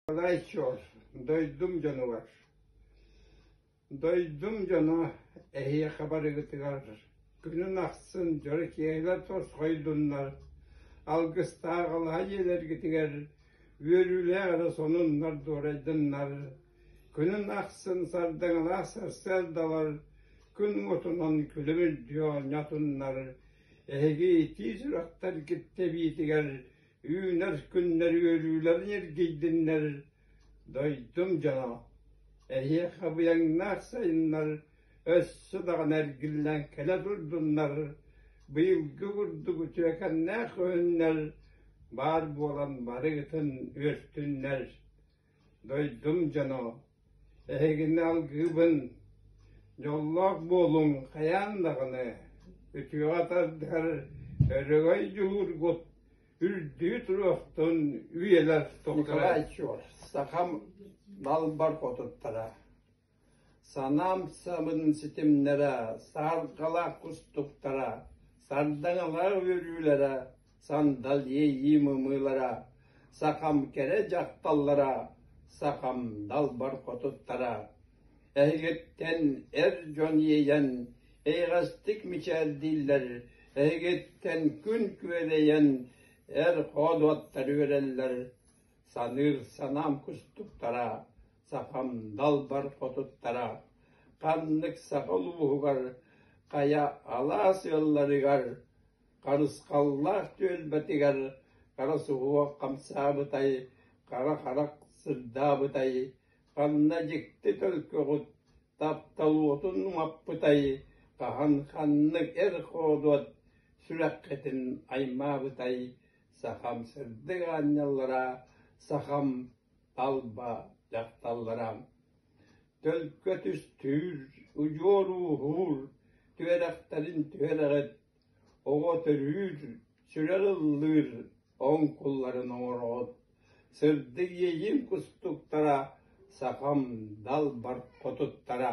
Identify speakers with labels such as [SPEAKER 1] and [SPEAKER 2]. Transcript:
[SPEAKER 1] Олайчор, дойдум дьонугар. Дойдум дьоно эһиэхэ барыгытыгар күнүн ахсын дьоро киэһэлэр тосхойдуннар, алгыстаах алаһа дьиэлэргитигэр үөрүүлээх эрэ сонуннар дуорайдыннар, күнүн ахсын сардаҥалаах сарсыардалар күн уотунан күлүмүрдүү оонньотуннар, Эһиги тиис ыраттар киртэбиитигэр үүнэр күннэр үөрүүлэрин эргийдиннэр, дойдум дьоно, эһиэхэ быйаҥнаах сайыннар өссө даҕаны эргиллэн кэлэ турдуннар, быйылгы курдук үтүөкэннээх көһүннэр баар буолан барыгытын үөртүннэр Дойдум дьоно, эһигини алгыыбын, дьоллоох буолуҥ хайаан даҕаны, үтүөҕэ тардыһар өрөгөй дьуһуургут үрдүү туруохтун үйэлэр тухары. Николай Ичур, сахам далбар хотуттара Санаам самын ситимнэрэ, сааргалаах кустуктара, сардаҥалаах үөрүүлэрэ, сандал иэйии мымыылара, сахам кэрэ дьахталлара, сахам далбар хотуттара, эһигиттэн эр дьон иэйэн, эйэҕэстик мичээрдииллэр, эһигиттэн күн күөдэйэн эр хоодуоттар үөрэллэр, саныыр санаам кустуктара, Сахам далбар отуттара ханнык саха улууһугар хайа алаас ыалларыгар Харысхаллаах түөлбэтигэр хара суһуох хамсаабытай, хара харах сырдаабытай, ханна дьикти төлкөҕут тапталуотун умаппытай, хаһан ханнык эр хоодуот сүрэххитин аймаабытай, сахам сырдык аанньаллара, сахам талба дьахталлара төлкө түстүүр, удьуор ууһуур, түөрэхтэрин түһэлэҕит, оҕо төрүүр, сүрэр ыллыыр оҥкулларын оҥороҕут, сырдык иэйиим кустуктара сахам далбар хотуттара